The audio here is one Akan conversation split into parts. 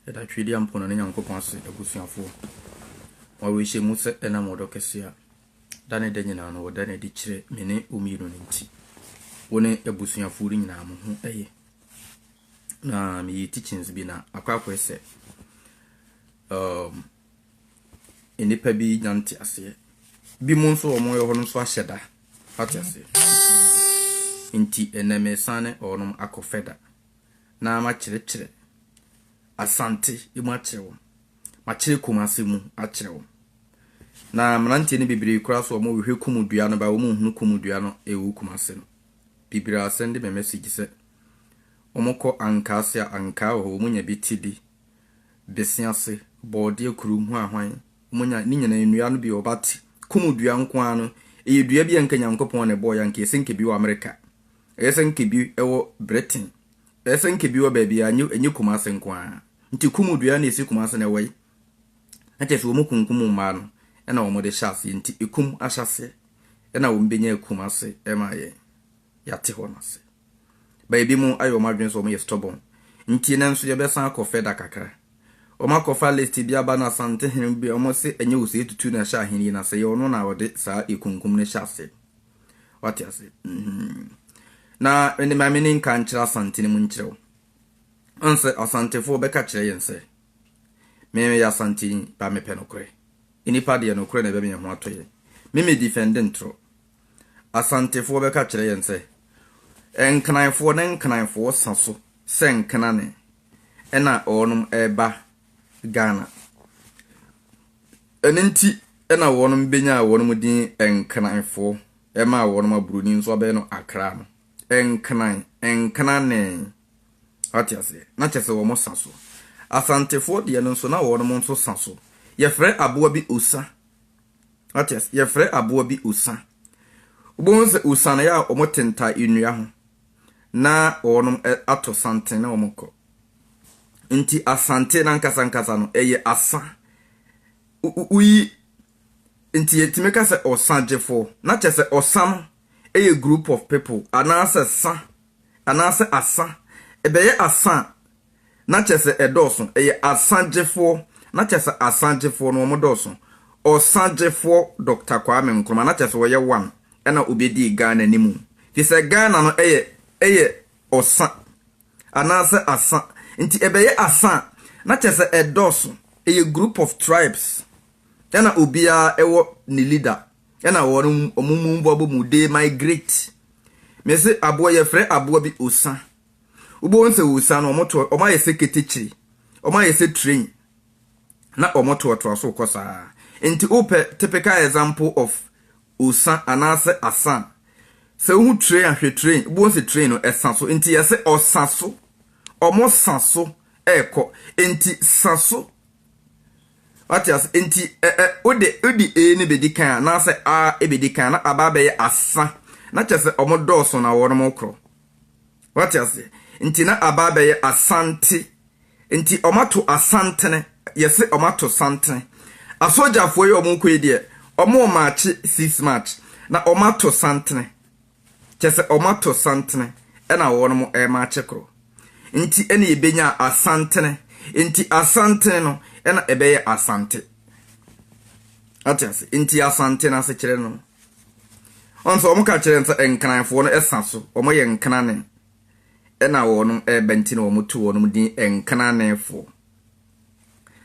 Yɛda Twedeɛ Mponane Nyankopɔn ase abusuafoɔ. Mo awerɛhyɛm mu sɛ ɛnam ɔdɔ kɛseɛ a da ne da nyinaa no wɔda no adi kyerɛ me ne wo mmienu no nti, wo ne abusuafoɔ no nyinaa mo ho yɛ. Na meyɛ teachings bi na akɔ akɔɛ sɛ um, nnipa bi nya nte aseɛ. Bi mu nso wɔn yɛ hɔ no nso ahyɛ da. Ate aseɛ? Nti ɛnɛ mesan ne ɔnom akɔ fɛda. na makyerɛkyerɛ Asante mu akyerɛ wɔn, makyerɛ Kumase mu akyerɛ wɔn. Na mmeranteɛ no bebree koraa so wɔn rehwɛ kumu dua no ba wɔn nhunu kumu dua no ɛwɔ Kumase no. Bebree a sɛnde me message sɛ wɔn kɔ ankaa se a ankaa wɔ hɔ wɔn nya bi ti bi, besease, bɔɔdeɛ kuru, hwanhwan, wɔn nya ne nyinaa nnua no bi wɔ but kumu dua nko ara no ɛyɛ dua bi a nka Nyankopɔn na ɛbɔɔ yɛ anka ɛsɛ nka bi wɔ America. Ɛyɛ sɛ nka ebi wɔ Britain. Ɛyɛ sɛ nka ebi wɔ baabi a ɛnyɛ Kumase nko ara. Nti kum dua na esi Kumase na ɛwɔ yi. Na kyerɛ sɛ wɔkunkum mmaa no na wɔde hyɛ aseɛ. Nti ekum ahyɛaseɛ na wɔbɛnya Kumase ma yɛn. Yɛate hɔ no ase. Ba ebinom ayɛ wɔn adwene sɛ wɔyɛ stubborn. Nti nnɛ nso yɛbɛsan akɔ further kakra. Wɔakɔfa list bi aba na Asantehene bi, wɔse ɛnyɛ Osei Tutu na ɛhyɛ ahenni no ase. Ɛyɛ ɔno na ɔde saa ekunkum no hyɛ aseɛ. wate ase mm-hmm. na mene ma mene nka nkyerɛ asante no mu nkyerɛ wo ɔnsɛ asantefoɔ bɛka kyerɛ yɛn sɛ meyɛ asanteni ba mepɛ nokorɛ nnipa deɛ nokorɛ na ɛbɛma yɛn ho atɔ yɛn meme defɛnde ntorɔ asantefoɔ bɛka kyerɛ yɛn sɛ nkananfoɔ ne nkananfoɔ sa so sɛ nkanane ɛna ɔnom ɛba Ghana. Ɛno nti na wɔbenyaa wɔn din Nkranfoɔ maa wɔn aburoni nso abɛyɛ no Akra no. Nkran, Nkranee. Wate aseɛ? Na kyerɛ sɛ wɔn sa so. Asantefoɔ deɛ no nso na wɔn nso sa so. Yɛfrɛ aboa bi osa. Wate aseɛ? Yɛfrɛ aboa bi osa. Wobɛhu sɛ osa no yɛ a wɔte ntae nnua ho. na wɔnom ato santen na wɔn kɔ. Nti asante nankasa nkasa no ɛyɛ asa. Woyi nti yɛtumi ka sɛ ɔsa gyefoɔ na kyɛ sɛ ɔsa no ɛyɛ group of people anaasɛ sa anaasɛ asa ɛbɛyɛ asa a na kyerɛ sɛ ɛdɔɔso, ɛyɛ asagyefoɔ, na kyerɛ sɛ asagyefoɔ no wɔn dɔɔso, ɔsagyefoɔ Doctor Kwame Nkrumah, na kyerɛ sɛ ɔyɛ one, ɛna ɔbɛdii Ghana anim, firi sɛ Ghana no ɛyɛ ɛyɛ ɔsa, anaa sɛ asa, nti ɛbɛyɛ asa a, na kyerɛ sɛ ɛdɔɔso, ɛyɛ group of tribes, ɛna obiara ɛwɔ ne leader, ɛna wɔn wɔn mu bɔ abɔ mu, they migrate, mese aboa, yɛfrɛ aboa bi osa, Wobɛhu sɛ ɔresian no, wɔayɛ sɛ ketekyire, wɔayɛ sɛ train, na wɔtoatoa so rekɔ saa ara. Enti wopɛ typical example of osa anaasɛ asa a, sɛ wohu train a, hwɛ train, wobɛhu sɛ train no ɛsa so. Enti yɛse ɔsa so, wɔsa so rekɔ. Enti sa so. Wate ase? Enti ɛ ɛ wode wode a no bɛdi kan anaasɛ a bɛdi kan na aba abɛyɛ asa, na kyerɛ sɛ wɔdɔɔso na wɔrekorɔ. Wate aseɛ? Nti na aba abɛyɛ Asante. Nti wɔato Asantene, yɛse wɔato santene. Asogyafoɔ yi a wɔrekɔ yi deɛ, wɔremaakye six March, na wɔato santene. Kyerɛ sɛ wɔato santene ɛna wɔnom remaakye korɔ. Nti ɛna yɛbɛnyaa Asantene. Nti Asantene no ɛna ɛbɛyɛ Asante. Wate aseɛ? Nti Asante no asekyerɛ no no. Ɔn sɛ wɔn ka kyerɛ no sɛ Nkranfoɔ no ɛsa so, wɔn yɛ Nkrane, ɛna wɔnom ɛɛba nti na wɔn to wɔnom din Nkranefoɔ.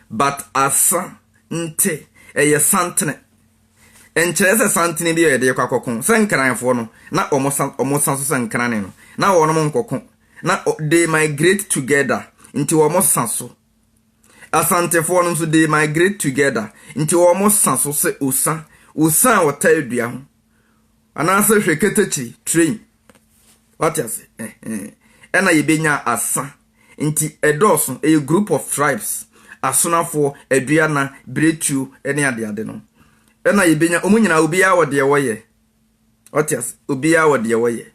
But Asa nte, ɛyɛ Santene. Nkyerɛ sɛ Santene bi a yɛde kɔ akɔko, sɛ Nkranfoɔ no na wɔn sa, wɔn sa so sɛ Nkrane no, na wɔnom nkɔko, na they migrate together, nti wɔn sa so Asantefoɔ no nso they migrate together nti wɔn sa so sɛ osa, osa a ɔtaa dua ho anaasɛ hwɛ ketekyire, train. Wate ase? Ɛhɛn. Ɛna yɛbɛnya asa nti ɛdɔɔso, ɛyɛ group of tribes, asonafoɔ, aduana, biretuo ne adeade no. Ɛna yɛbɛnya, wɔn nyinaa obiara wɔ deɛ wɔyɛ. Ɔte ase. Obiara wɔ deɛ wɔyɛ.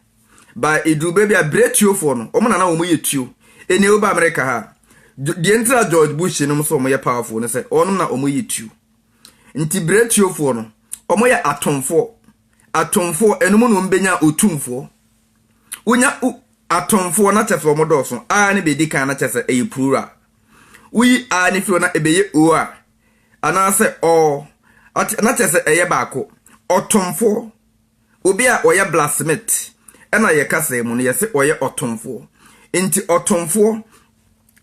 Ba eduru baabi a brɛ tuofoɔ no. Wɔn na na wɔn yɛ tuo. Ɛnni woba America ha a, deɛ nti na George Bush nom sɛ wɔn yɛ powerful ne sɛ wɔn na wɔn yɛ tuo. Nti brɛ tuofoɔ no, wɔn yɛ atomfoɔ. Atomfoɔ, ɛnom na wɔn bɛnya otumfoɔ. Wonya u, atomfoɔ na kyɛ sɛ wɔn dɔɔso. A ne bɛdi kan na kyɛ sɛ ɛyɛ plural. Woyi a ne firi hɔ na ɛbɛyɛ o a, anaasɛ ɔɔ, ate, na kyerɛ sɛ ɛyɛ baako. Ɔtomfoɔ, obi a ɔyɛ blacksmith, ɛna yɛ kasa mu no yɛse ɔyɛ ɔtomfoɔ. Nti ɔtomfoɔ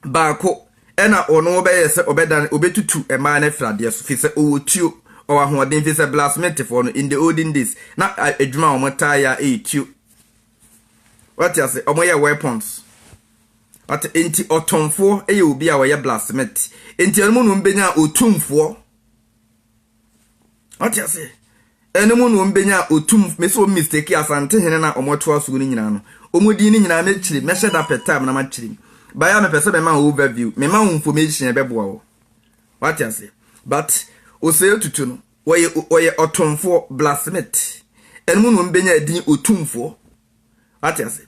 baako ɛna ɔno ɔbɛyɛ sɛ ɔbɛdan, ɔbɛtutu mmaa no afiri adeɛ so, firi sɛ ɔwɔ tuo, ɔwɔ ahoɔden, firi sɛ blacksmithfoɔ no in the olden days na adwuma a wɔtaa yɛ a ɛyɛ tuo Wate ase? Wɔyɛ weapons. Wate? Enti ɔtomfoɔ yɛ obi a ɔyɛ blacksmith. Enti ɛno mu na wɔbɛnya otumfoɔ. Wate ase? Ɛno mu na wɔbɛnya otum, mesi wɔn mistake asante hene na wɔtoa so no nyinaa no. Wɔn din no nyinaa mɛkyerɛ, mɛhyɛ da pɛ time na makyerɛ mu. Baya mepɛ sɛ mema wo overview, mema wo information ɛbɛboa wo. Wate ase? But osɛe tutu no, Wɔyɛ wɔyɛ ɔtomfoɔ, blacksmith. Ɛno mu na wɔn bɛnya din otumfoɔ. Wate ase?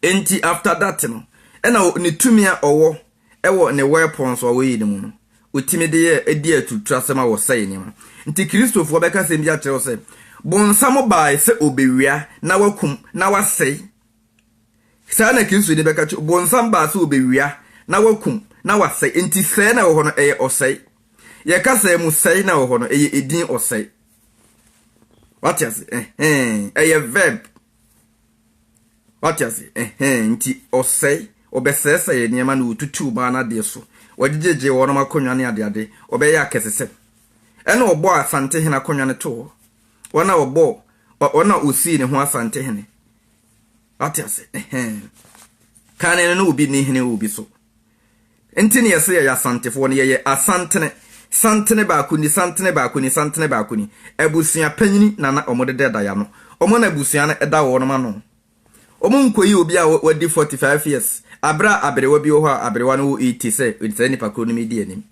Enti after that no, ɛna ne tumi a ɔwɔ ɛwɔ ne weapons a wɔyɛ ne mu no, ɔtumi de yɛ ɛdi aturuturasɛm a wɔsɛe nneɛma. Nti Kristofoɔ bɛka asɛm bi akyerɛ wo sɛ, bonsam bae sɛ ɔbɛwia na wakum na wasɛe Saa na Kristo de bɛka akyerɛ. Bonsam baa sɛ ɔbɛwia, na wakum, na wasɛe. Enti sɛe na ɛwɔ hɔ no, ɛyɛ ɔsɛe. Yɛn kasaa mu, sɛe na ɛwɔ hɔ no, ɛyɛ edin ɔsɛe. Wate ase? Ɛhɛn. Ɛyɛ verb. Wate ase? Ɛhɛn. Nti ɔsɛe, ɔbɛsɛesɛe nneɛma na ɔtutuu maa no adeɛ so. Ɔgyegyee wɔnom akonnwa ne adeade. Ɔbɛyɛɛ akɛsesɛm. Ɛna ɔbɔɔ asantehene akonnwa no too hɔ. Ɔna ɔbɔɔ, ɔ, ɔna ɔsii ne ho asantehene. Wate ase? Ɛhɛn. Kane no, na obi nni hene wɔ obi so. Nti na yɛse yɛyɛ Asantefoɔ no, yɛyɛ Asantene. Santene baako ni, santene baako ni, santene baako ni. Abusua panyini na na wɔde da da y'ano. Wɔn na abusua no da wɔnom ano. Wɔnkɔyi obi a wadi 45 years, aberɛ a aberewa bi wɔ hɔ a aberewa no wɔ 80 sɛ saa nipa korɔ no medi anim.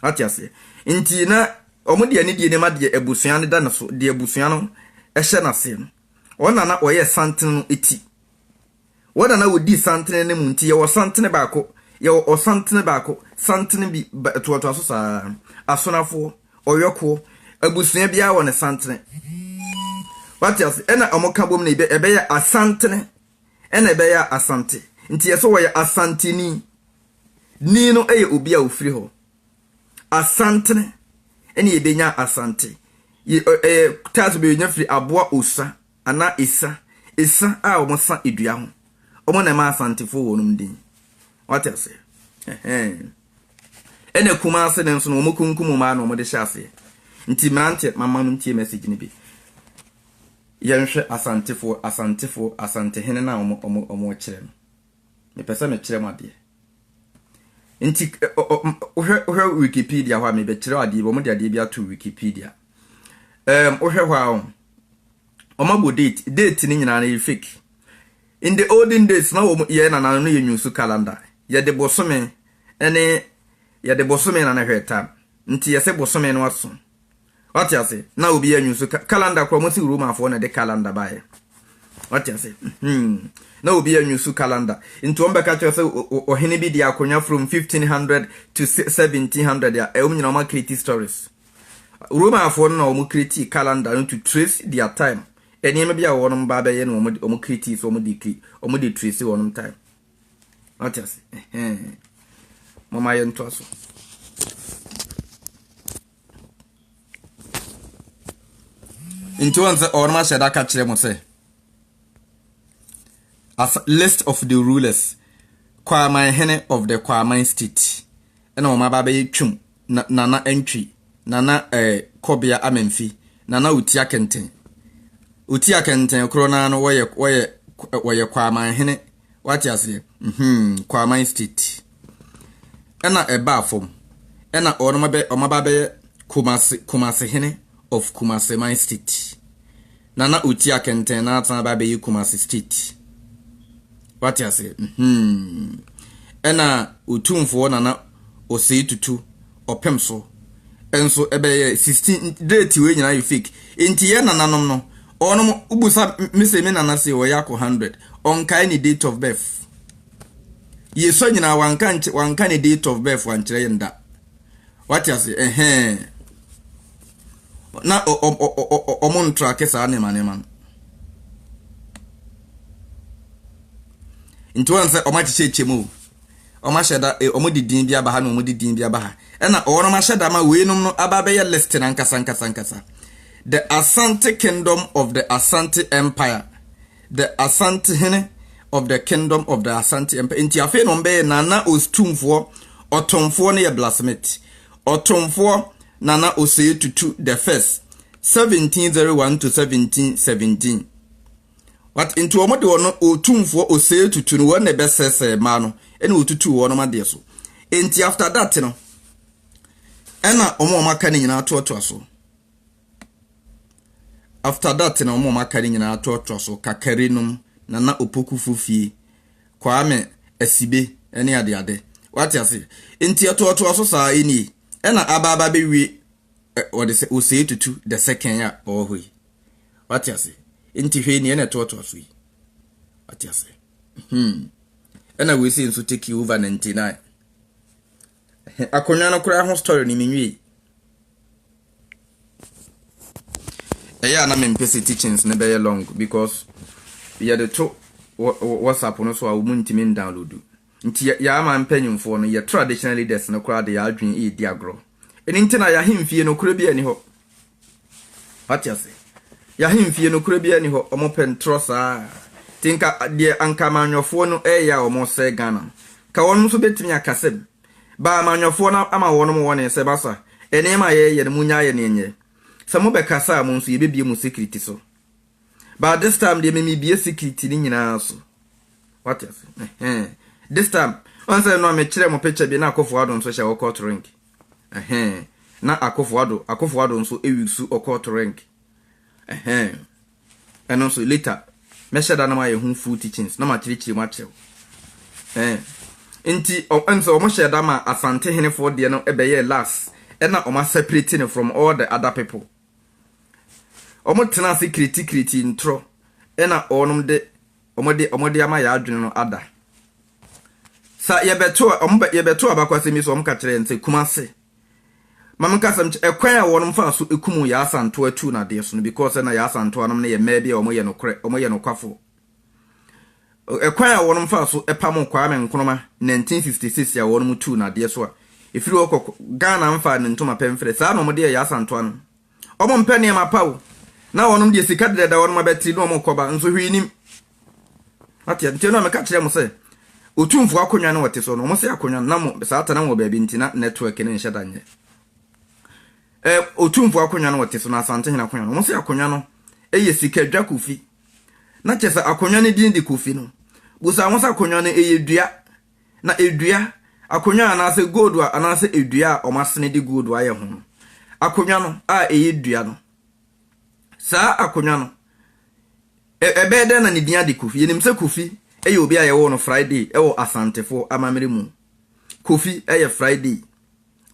Wate aseɛ? Nti na wɔde anidie no ma deɛ abusua no da ne so, deɛ abusua no hyɛ n'aseɛ no. Wɔn na na wɔyɛ santene no ti. Wɔn na na wɔdi santene no mu nti yɛwɔ santene baako, yɛwɔ ɔsantene baako, santene bi, ba ɛtoatoa so saa ara. Asonafoɔ, ɔyɔkoɔ, abusua biara wɔ ne santene. Wate ase? Ɛna wɔn ka bom no ɛbɛ, ɛbɛyɛ asantene ɛna ɛbɛyɛ asante. Nti yɛsɛ wɔyɛ asanteni. Ni no yɛ obi a ɔfiri hɔ. Asantene ne yɛbɛnya Asante. Ɛyɛ title bi yɛnya firi aboa osa anaa esa, esa a wɔsa dua ho. Wɔn na ɛma Asantefoɔ wɔn din. Wate aseɛ? Ɛhɛn. Ɛna Kumase no nso no, wɔkunkum wɔn ara na wɔde hyɛ aseɛ. Nti mmeranteɛ, mama no ntie message no bi. Yɛnhwɛ Asantefoɔ, Asantefoɔ, Asantehene no a wɔkyerɛ no. Mepɛ sɛ mekyerɛ mo adeɛ. Nti, wohwɛ wohwɛ Wikipedia hɔ a, mebɛkyerɛ adeɛ bi, wɔde adeɛ bi ato Wikipedia. Um, wohwɛ hɔ a, wɔn abɔ date, date no nyinaa no yɛ fake. In the olden days, na wɔn yɛ nananom no yɛ nyusu calendar, yɛde bosome ɛne yɛde bosome na na hwɛ time, nti yɛsɛ bosome no aso, Wate ase? Na obi anyu so ka, calendar kora wɔn si Romafoɔ na ɛde calendar baeɛ. Wate ase? Hmm. Na obi anyu so calendar. Nti wɔn bɛka kyerɛ sɛ ɔhene bi di akonnwa from 1500 to 1700 a, ɛwɔ mu nyinaa wɔn akreti stories. Romafoɔ no na wɔn kreti calendar no to trace their time. Nneɛma bi a wɔn ba bɛyɛ no wɔn wɔn kreti so wɔn de kri wɔn de trace wɔn time. Wate ase? Ɛhɛn. Mama yɛn to aso. nti wɔn sɛ wɔn ahyɛ da ka kyerɛ mo sɛ as list of the rulers kwaman hene of the kwaman state ɛna wɔn aba abɛyɛ twam na nana ntwi nana ɛɛ eh, kɔbea amamfi nana otia kɛntɛn otia kɛntɛn korɔ naa no wɔyɛ wɔyɛ wɔyɛ kwaman hene wate aseɛ hmm Kwaman state ɛna ɛbaa fam ɛna ɔnom abɛ ɔmo aba abɛyɛ Kumase Kumase hene of Kumase man state na na ɔti akɛntɛn na atan aba abɛyɛ Kumase state wate aseɛ hmm ɛna ɔtumfoɔ nana ɔsɛe tutu ɔpem so nso ɛbɛyɛ sixteen date wei nyinaa yɛ fake nti yɛ nananom no ɔnom ubusa mese me nana se ɔyɛ akɔ hundred ɔnkae ne date of birth yɛsɔ nyinaa wanka nkyɛ wanka ne date of birth wankyerɛ yɛn da wate ase ɛhɛn na ɔmo ntrake saa nneɛma nneɛma no nti wɔn sɛ ɔmo akyekyɛ kyɛ mu o. Wɔn ahyɛ da, eh, wɔn de din bi aba ha na wɔn de din bi aba ha. Ɛna wɔn ahyɛ da ma weinom no aba abɛyɛ list no ankasa ankasa ankasa. The Asante Kingdom of the Asante Empire. The Asantehene of the Kingdom of the Asante Empire. Nti afei na wɔn bɛyɛ Nana Ostumfoɔ, ɔtomfoɔ no yɛ Blasmith. Ɔtomfoɔ Nana Osei Tutu the First, 1701 to 1717. What? Nti wɔn de wɔn otumfoɔ osɛe tutu no, wɔn na ɛbɛsɛesɛe mmaa no, ɛna wɔtutuu wɔnom adeɛ so. Enti after that no, ɛna wɔn a wɔn aka no nyinaa toatoa so. After that na wɔn a wɔn aka no nyinaa toatoa so, kakari nom, nana opokufo fie, kwame, asibe, ɛne adeade. Wate ase? Enti ɛtoatoa so saa ɛnie, ɛna aba aba bɛwie ɛ, wɔde sɛ osɛe tutu the second a ɔwɔ hɔ yi. Wate ase? Nti hwɛ nea na ɛtoatoa so yi. Wate ase? Hmm. Ɛna wei sei nso take you over 99. Akonnwa no koraa ho story no menwie. Ɛyɛ a na mempɛ sɛ teachings no bɛyɛ long because yɛde to WhatsApp no so a wɔn ntumi ndownload. Nti yɛ yɛ aman mpanyimfoɔ no, yɛ traditional leaders no koraa de yɛ adwene redi agorɔ. Ɛno nti na yɛ ahemfie nokorɛ biara nni hɔ. Wate ase? Yɛ ahemfie nokorɛ biara nni hɔ. Wɔpɛ ntorɔ saa. Nti nka deɛ anka amanyɔfoɔ no reyɛ a wɔresɛe Ghana no, nka wɔnom nso bɛtumi aka sɛ, Ba amanyɔfoɔ no ama wɔnom wɔne sɛ, Masa, nneɛma a yɛreyɛ no monnyae yɛ ne ɛnyɛ. Sɛ mobɛkasa a mo nso yɛbɛbue mo security so. but this time deɛ memebie secret ne nyinaa so wate ase ɛhɛn this time ɔn sɛ no a mekyerɛ mo picture bi na akofo ado nso hyɛ ɔkɔ torink ɛhɛn na akofo ado akofo ado nso ewi su ɔkɔ torink ɛhɛn ɛno nso later mɛhyɛ da na mayɛ ho full teachings na makyerɛkyerɛ mu akyerɛw ɛhɛn nti ɔn sɛ wɔn hyɛ da ma asante henefoɔ deɛ no ɛbɛyɛ last ɛna wɔn aseparate no from all the other people Wɔn tena ase kiretikireti ntorɔ na wɔnom de wɔn de wɔn de ama yɛ adwene no ada. Sa yɛbɛto wɔn bɛ yɛbɛto abakɔsɛm yi so wɔn ka kyerɛ yɛn sɛ kumase. Maame nkasɛm kyɛ ɛkwan a wɔnom fa so ekum yɛ asantoa tu na adeɛ so no because na yɛ asantoa nom no yɛ mmaa bi a wɔn yɛ nokorɛ wɔn yɛ nokwafo Kwan a wɔnom faa so pamoo Kwame Nkrumah 1956 a wɔnom tuu no adeɛ so a ɛfiri hɔ kɔ Ghana mfaa ne ntoma pɛ mfrɛ saa na wɔde yɛɛ Yasa ntoa no. Wɔnom mpɛ nneɛma pa o, na wɔnom deɛ sika deda da wɔnom abɛtiri na wɔnom rekɔ ba nso hwee nim. Wate a, nti ɛno a meka kyerɛ mo sɛ Otumfoɔ akonnwa no wɔte so no, wɔn se akonnwa no na mo saa tena wɔ baabi nti na network no nhyɛ da nyɛ. Ɛ, Otumfoɔ akonnwa no wɔte so na Asantehene akonnwa no, wɔn se akonnwa no yɛ sika dwa kofi. na kyerɛ sɛ akonnwa no din de Kofi no, bisa wɔn sɛ akonnwa no yɛ dua, na dua, akonnwa anaasɛ gold a anaasɛ dua a wɔasene de gold ayɛ ho no. Akonnwa no a ɛyɛ dua no, saa akonnwa no, ɛbɛyɛ dɛn na ne din ade Kofi? Yɛnim sɛ Kofi yɛ obi a yɛwoo no Friday wɔ Asantefo amammerɛ mu. Kofi yɛ Friday.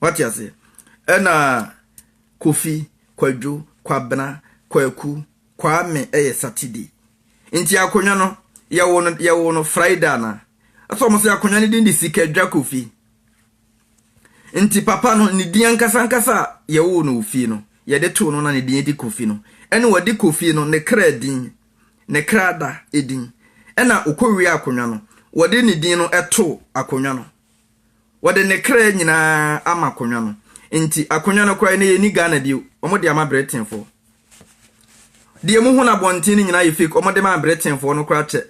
Wate aseɛ? Ɛna Kofi, Kwadwo, Kwabena, Kwaku, Kwame ɛyɛ Saturday nti akonwa no yɛwo no yɛwo no Friday anaa? Ɛsɛ ɔmo se akonwa no din de Sikadwa Kofi nti papa no ne din ankasa ankasa a yɛwoo no wɔ fie no yɛde too no na ne din de Kofi no ɛna ɔde Kofi no ne kra din ne kra da edin ɛna ɔkɔ wie akonwa no wɔde ne din no ɛtoo akonwa no. Wɔde ne kra nyinaa ama akonwa no nti akonwa no koraa no yɛnni Ghana bio wɔn de ama Britainfoɔ. Deɛ mo hu no abɔnten no nyinaa yɛ fake wɔn de maa Britainfoɔ no koraa kyɛ.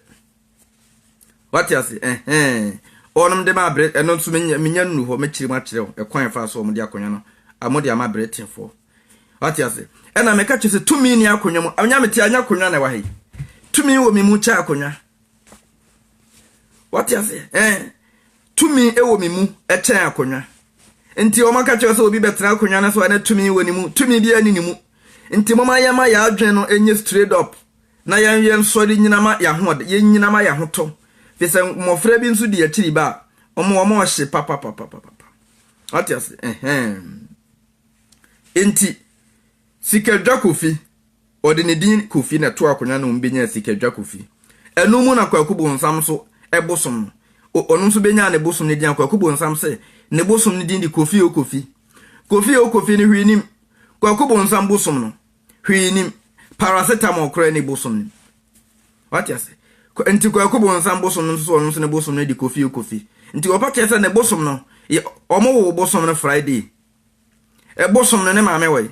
Wate ase ɛhɛn wɔn de maa Brit ɛno nso menya menya nnu hɔ mɛkyerɛ mu akyerɛ wo ɛkwan ɛfa so wɔn de akonwa no wɔn de ama Britainfoɔ. Wate ase ɛna mɛka kyerɛ sɛ tumi ni akonwa mu anya mete anya akonwa na ɛwɔ ha yi tumi wɔ me mu kyɛ akonwa. wate ase ɛn tumi wɔ me mu ɛkyɛn akonnwa nti wɔn aka kyerɛ sɛ obi bɛtena akonnwa no so a na tumi wɔ ne mu tumi bi ani ne mu nti moma yɛn ma yɛn adwene no ɛnyɛ straight up na yɛn yɛn sɔre nyina ma yɛn ho yɛn nyina ma yɛn ho tɔ fi sɛ mmɔfra bi nso di akyiri ba a wɔn wɔn ɔhye papapapapapa wate ase ɛhɛn nti Sikadwa Kofi, ɔde ne din Kofi na ɛtoo akonnwa no mu benyaa Sikadwa Kofi. Ɛno mu na Kwaku Bonsam nso bosom no. O Ɔno nso benyaa ne bosom no din a Kwaku Bonsam sɛ ne bosom no din de Kofi O Kofi. Kofi O Kofi no hwee nnim. Kwaku Bonsam bosom no, hwee nnim. Paracetamol koraa nni bosom no mu. Wate ase? Kwa, nti Kwaku Bonsam bosom no nso so ɔno nso ne bosom no de Kofi O Kofi. Nti wɔpa kyerɛ sɛ ne bosom no, wɔwoo bosom no Friday. Ɛbosom no ne maame wɔ he?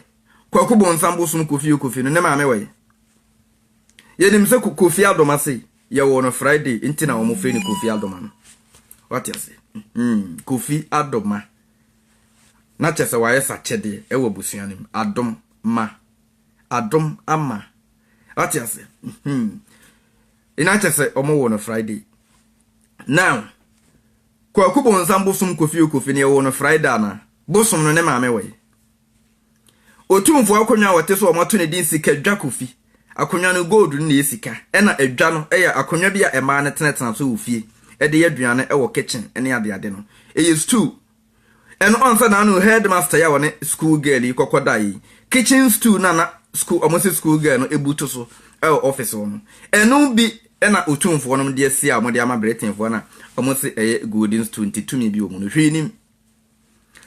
Kwaku Bonsam bosom Kofi Okofi no ne maame wɔ he? Yɛnim sɛ Kofi Adoma se yɛwoo no Friday nti na wɔfrɛ no Kofi Adoma no. Wate ase? Hmm, Kofi Adoma. Na kyɛ sɛ wayɛ sakyɛdeɛ ɛwɔ abusua no mu. Adom ma. Adom ama. Wate ase? Hmm. Ina kyɛ sɛ wɔwoo no Friday. Now, Kwaku bonsam bosom Kofi Okofi no yɛwoo no Frae da anaa? Bosom no ne maame wɔ he? Otumfoɔ akonnwa a ɔte so a wɔato ne din Sikadwa Kofi. Akonnwa no gold no na ɛyɛ sika ɛna adwa no yɛ akonnwa bi a mmaa no tenatena so wɔ fie de yɛ aduane wɔ kitchen ne adeade no. Ɛyɛ stool. Ɛno ansa na ano headmaster yi a ɔne school girl yi kɔkɔ daeɛ yi, kitchen stool no a na school wɔn sɛ school girl no butu so wɔ office hɔ no, ɛno bi Ɛna otumfoɔ nom deɛ si a wɔn de ama Britainfoɔ no a wɔn se ɛyɛ Golden Stool nti tumi bi wɔ mu no hwee nim.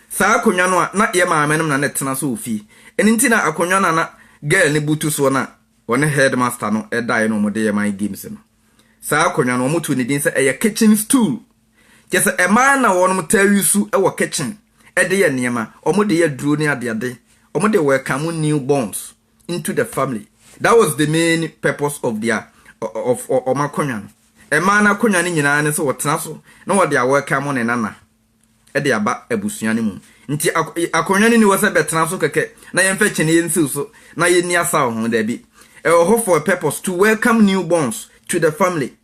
Saa akonwa no a na yɛ maame nom na na ɛtena so wɔ fie. Ɛno nti na akonwa no a na girl no butu soɔ no a wɔne headmaster no daeɛ no wɔn de yɛ mind games no. Saa akonwa no wɔn too ne din sɛ ɛyɛ kitchen stool. Kyerɛ sɛ ɛmaa na wɔnom taa use wɔ kitchen de yɛ nneɛma, wɔn de yɛ aduro ne adeade, wɔn de welcome new borns. into the family that was the main purpose of their of wɔn akonnwa no ɛmaa no akonnwa no nyinaa ne sɛ wɔtena so na wɔde a welcome ne nana ɛde aba abusua no mu nti akonnwa no ni wɔ sɛ bɛtena so kɛkɛ na yɛmfa kyene yɛn siw so na yɛnni asaw ho daabi ɛwɔ hɔ for a purpose to welcome new borns to the family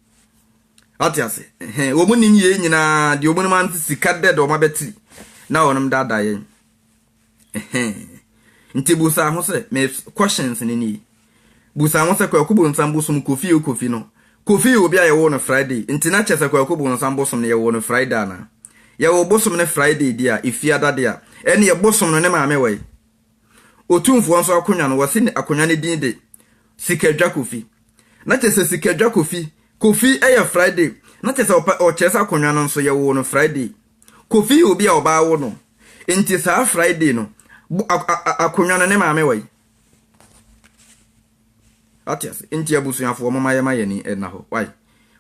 ate ase wɔn nim yɛn nyinaa deɛ wɔn nim ano sika dɛ deɛ wɔn abɛtiri na wɔn daadaa yɛn Ɛhɛn. Nti busa ho sɛ, me questions no nie. Busa ho sɛ Kwaku Bonsam bosom Kofi o Kofi no, Kofi yɛ obi a yɛwoo no Friday, nti na kyerɛ sɛ Kwaku Bonsam bosom no yɛwoo no Friday anaa? Yɛwoo bosom no Friday deɛ a, Efiada deɛ a, ɛneɛ bosom no ne maame wɔ he? Otumfoɔ nso akonwa no, wɔse akonwa no din de Sikadwa Kofi. Na kyerɛ sɛ Sikadwa Kofi, Kofi yɛ Friday, na kyerɛ sɛ ɔpɛ ɔkyerɛ sɛ akonwa no nso yɛwoo no Friday. Kofi yɛ obi a ɔbaa wo no nti saa Friday no akonwa no ne maame wɔ yi. Ate ase nti abusuafoɔ mo ma yɛ ma yɛ ni ɛna hɔ why.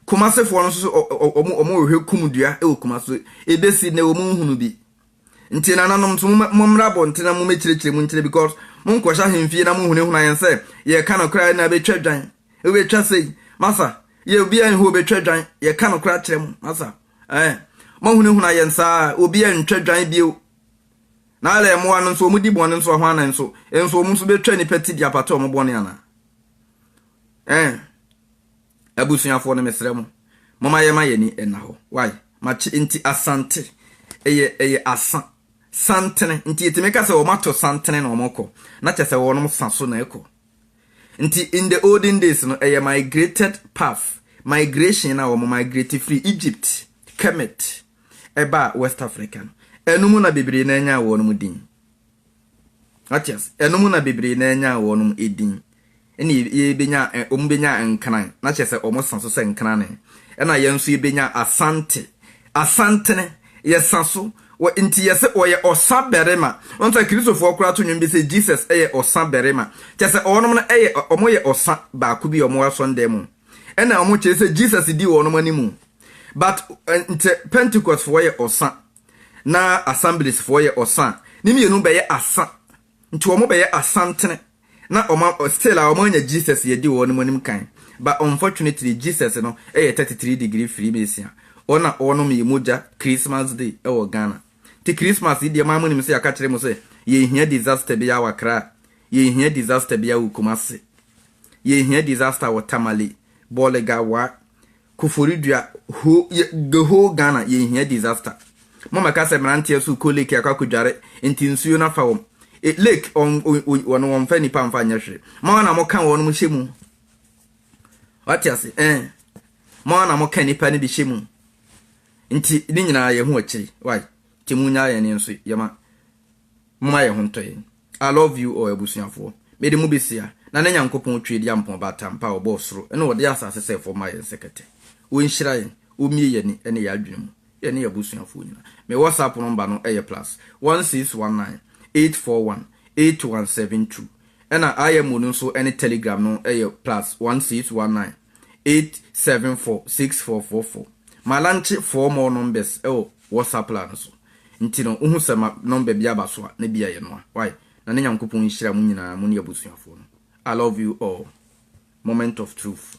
Kumasefoɔ no nso so ɔmo ɔmo rehwɛ kum dua ɛwɔ kuma so ebe si ne ɔmo nhunu bi. Nti nananom nso mo mmra abɔnten na mo mekyerɛkyerɛ mu nkyerɛ because mo nkɔhyɛ ahemfie na mo hunahuna yɛn sɛ yɛ ka no koraa na ɛbɛtwa dwan ɛbɛtwa sei masa yɛ obi a nhu ɔbɛtwa dwan yɛ ka no koraa kyerɛ mo masa Ɛɛ, moahunahuna yɛn saa a, obi antwa dwan bio. Na Alɛ mmoa no nso, wɔdi bɔne nso a, hwan na nso? Nso wɔn nso bɛtwa nnipa ti de apata wɔn bɔne anaa? Ɛɛ, abusuafoɔ no, mesrɛ mo, momma yɛmma yɛn ani nna hɔ. Wai, makye enti Asante, ɛyɛ, ɛyɛ asa, santene, enti yɛtumi ka sɛ wɔato santene na wɔrekɔ, na kyerɛ sɛ wɔnom sa so na ɛrekɔ. Nti in the olden days no ɛyɛ migrated path, migration no a wɔn migrate firi Egypt, Kemet, ɛbaa West Africa no, ɛno mu na bebree no ara nyaa wɔnom din. Wate ase? Ɛno mu na bebree no ara nyaa wɔnom edin. Ɛna yɛ- yɛbɛnyaa, ɛ- wɔn bɛnyaa Nkran, na kyerɛ sɛ wɔn sa so sɛ Nkrane. Ɛna yɛn nso yɛbɛnyaa Asante, Asantene, yɛsa so Wɔ nti yɛse ɔyɛ ɔsa barima. Wohu sɛ Kristofoɔ koraa to nnwom bi se Jesus yɛ ɔsa barima. Kyerɛ sɛ wɔnom no yɛ, wɔn yɛ ɔsa baako bi a wɔn wɔ asɔndan mu. Ɛna wɔn kyerɛ sɛ Jesus dii wɔnom animu. But nkyɛ Pentecostfoɔ yɛ ɔsa na Assembliesfoɔ yɛ ɔsa a, ne mmienu bɛyɛ asa Nti wɔn bɛyɛ asantene na wɔn a still a wɔn anya Jesus yɛdi wɔn anim kan but unfortunately Jesus no yɛ thirty three degree freemason wɔn a wɔnom yɛ mogya Christmas day wɔ Ghana nti Christmas yi deɛ mo a monim sɛ yɛaka kyerɛ mo sɛ yɛn hia disaster bi a wɔ Accra yɛn hia disaster bi a wɔ Kumasi yɛn hia disaster wɔ Tamale Bolga wa Koforidua whole yɛ the whole Ghana yɛn hia disaster mo mɛka sɛ mmeranteɛ so kɔ lake akɔ akɔdware nti nsuo no afa wɔn e, lake wɔn wɔn wɔn mfa nipa mfa nyɛ hwee mo ara na mo ka wɔn mo hyɛ mu wate ase ɛn eh. mo ara na mo ka nipa no bi hyɛ mu nti ne nyinaa yɛ ho akyiri wai nti mo nyaa yɛn nso yɛma mo ma yɛ ho ntɔ yɛn. I love you all abusuafoɔ. Mede mo besia, na ne Nyankopɔn Tweadiampɔn Baatampa a ɔbɔɔ soro ne ɔde asase sɛ fam ma yɛn sɛ kɛtɛ. Ɔnhyira yɛn, ɔmmie yɛn ani ne yɛn adwene mu, yɛn ne yɛn abusuafoɔ nyina. Me WhatsApp nɔmba no yɛ plus one six one nine eight four one eight one seven two ɛna IMO no nso ne Telegram no yɛ plus one six one nine. eight seven four six four four four. Ma lankye four more numbers wɔ WhatsApp line no so. Nti no wohu sɛ ma number bi aba so a na bi a yɛnoa. Wai? Na ne Nyankopɔn nhyira mo nyinaa mo ne abusuafoɔ no. I love you all. Moment of truth.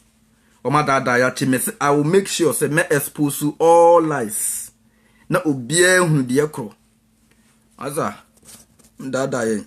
Wɔn adaadaa yɛakye me se I will make sure sɛ mɛ expose all lies na obiara hunu deɛ korɔ. Asa, mdaadaa yɛn.